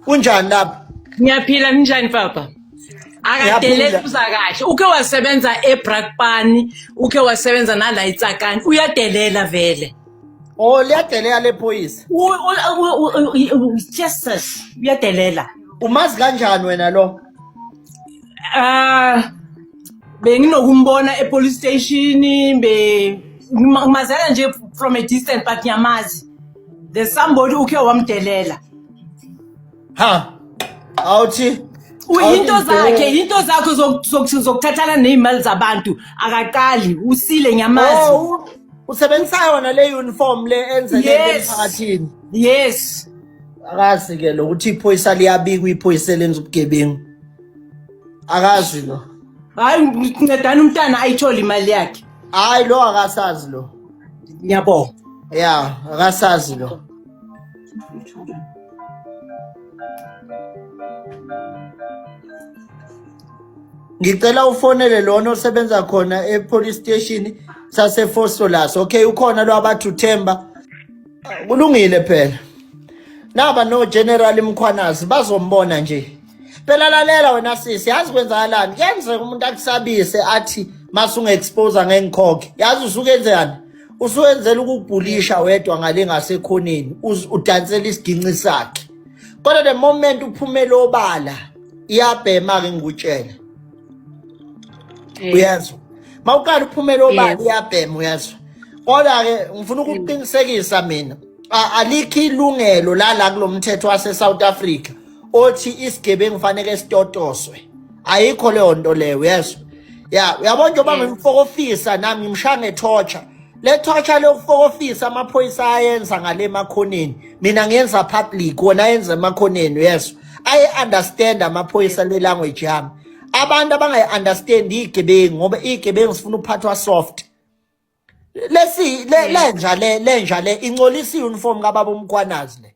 kunjani lapha ngiyaphila ninjani papa akadeleli uza kahle uke wasebenza ebrakpani uke wasebenza nala itsakani uyadelela vele oh liyadelela lephoyisa jesus uyadelela umazi kanjani wena lo ah benginokumbona epolice station be ngimazela nje from a distance but ngiyamazi The somebody ukhe wamdelela. Ha. Awuthi Uyinto Awuthi zakhe, bheka. yinto zakho zok- zok- zokuthathana nezimali zabantu. Akaqali, usile ngiyamazi. Oh, u- usebenzisa yona le uniform le enzeke Yes. emphakathini. Yes. Akazi ke lo ukuthi iphoyisa liyabikwa iphoyisa lenza ubugebengu. Akazi lo. Hayi ngincedana umntana ayithole imali yakhe. Hayi lo akasazi lo. ngiyabonga ya akasazi lo ngicela ufonele lona osebenza khona e-police station sasefosolas okay ukhona lo abathi uthemba kulungile phela naba no general mkhwanazi bazombona nje phela lalela wena sisi yazi kwenzakalani kuyenzeka umuntu akusabise athi masunge-exposa ngengikhokhe yazi usuke enzekani usuwenzela ukubhulisha wedwa ngale ngasekhoneni udansela isiginci sakhe kodwa the moment uphumele obala iyabhema-ke ngikutshele uyezwa ma uqala uphumele obala iyabhema uyezwa kodwa-ke ngifuna ukukuqinisekisa mina alikho ilungelo lala kulo mthetho wase-south africa othi isigebengu fanele sitotoswe ayikho leyo nto leyo uyezwa ya uyabona njengoba ngimfokofisa nami ngimshaya ngethorture le torture lokufokofisa amaphoyisa ayenza ngale emakhoneni mina ngiyenza public wona ayenza emakhoneni uyezwa ayi-understand amaphoyisa le language yami abantu abangayi-understand iy'gebengu ngoba iy'gebengu zifuna ukuphathwa soft lesi lenja le lenja le incolisa i-uniform kababa umkwanazi le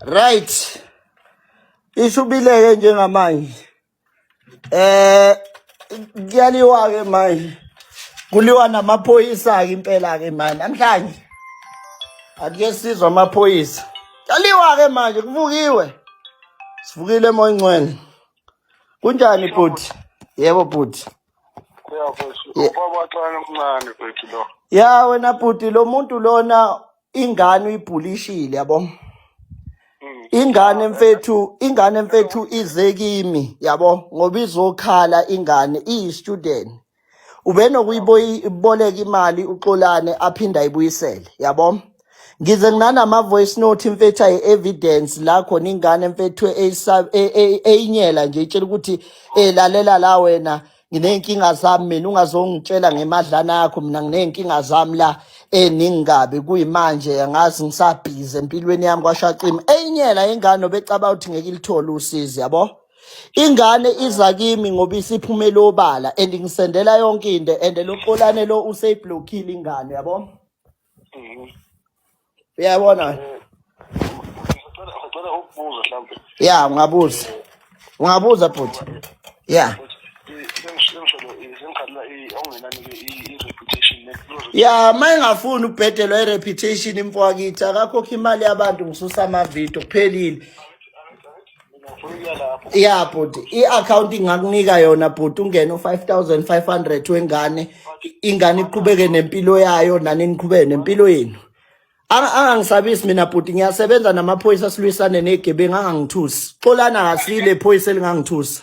Right. Ishubileke njengamanje. Eh kuyaliwa ke manje. Kuliwa namaphoyisa ke impela ke manje namhlanje. Ake sizwa amaphoyisa. Kuyaliwa ke manje kuvukiwe. Sivukile moyincwele. Kunjani bhuti? Yebo bhuti. ya wena bhuti lo muntu lona ingane uyibhulishile yabo mm. ingane mfethu ingane mfethu ize kimi yabo ngoba izokhala ingane iyi-student ubenokuyiboleka imali uxolane aphinde ayibuyisele yabo ngize nginanama-voice note imfethu ayi-evidence la khona ingane mfethu eyinyela nje itshela ukuthi um lalela la wena nginey'nkinga zami mina ungazongitshela ngemadlana yakho mina nginey'nkinga zami la eningingabi kuyimanje angazi ngisabhizi empilweni yami kwashacima eyinyela ingane obecabanga ukuthi ngeke ilithole usizi yabo ingane iza kimi ngoba isiphumele obala and ngisendela yonke into and loxolane lo useyiblokhile ingane yabo Mhm. uyabona wena Eh, Sicela sicela ukubuza mhlawumbe ya ungabuza ungabuza bhuti ya sengisholo sengikhalela okungenani ke i-reputation nebuzo ya ma engafuni ubhedelwa i-reputation imfowakitha akakhokha imali yabantu ngisusa amavidiyo kuphelile ya bhuti i-akhawunti ingakunika yona bhuti ungene u-five thousand five hundred wengane ingane iqhubeke nempilo yayo nani niqhubeke nempilo yenu angangisabisi mina bhuti ngiyasebenza namaphoyisa silwisane negebengu angangithusi xolana kasile iphoyisa elingangithusa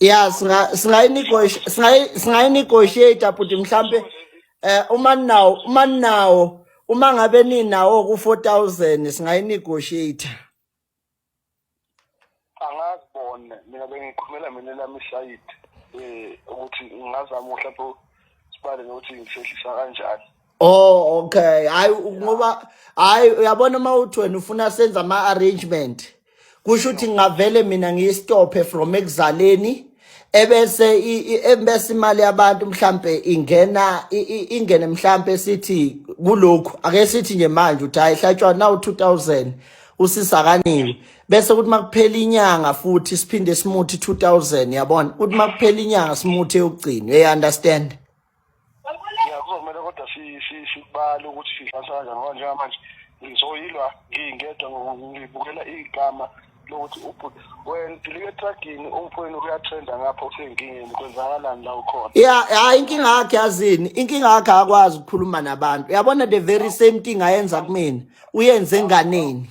ya singayinegotiate bhuti mhlampe eh uma ninawo uma ninawo uma ngabe ninawo ku 4000 singayinegotiate angazibone mina bengikhulumela mina lami side eh ukuthi ngingazama mhlawumbe sibale nokuthi ngisehlisa kanjani Oh okay. Hayi ngoba hayi uyabona uma uthi wena ufuna senze ama arrangement. Kusho ukuthi ngingavele mina ngiyistophe from ekuzaleni ebese i- i- ebese imali yabantu mhlambe ingena i- i- ingene mhlambe sithi kulokhu ake sithi nje manje uthi hayi hlatshwa nawu 2000 usisakaniwe bese kuthi makuphela inyanga futhi siphinde simuthi 2000 yabona kuthi makuphela inyanga simuthi eyokugcina you understand ya kuzomele kodwa sibale ukuthi sidlasa kanjani ngoba njengamanje ngizoyilwa ngingedwa ngibukela igama lokuthi ubhuti wena dilike etragini umfweni uyathenda ngapha usenkingeni kwenzakalani la ukhona ya hayi inkinga yakhe yazini inkinga yakhe akwazi ukukhuluma nabantu yabona the very same thing ayenza kumina uyenze enganeni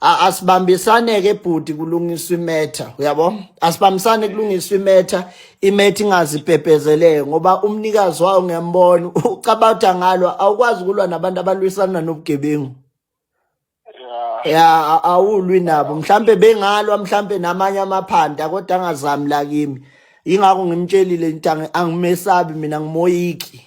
asibambisane ke bhuti kulungiswa imetha uyabo asibambisane kulungiswa imetha imetha ingazipephezeleke ngoba umnikazi wayo ngembona ucabatha ngalo awukwazi kulwa nabantu abalwisana nobugebengu ya awulwi nabo mhlambe bengalwa mhlambe namanye amaphanda kodwa angazami la kimi ingakho ngimtshelile ntange angimesabi mina ngimoyiki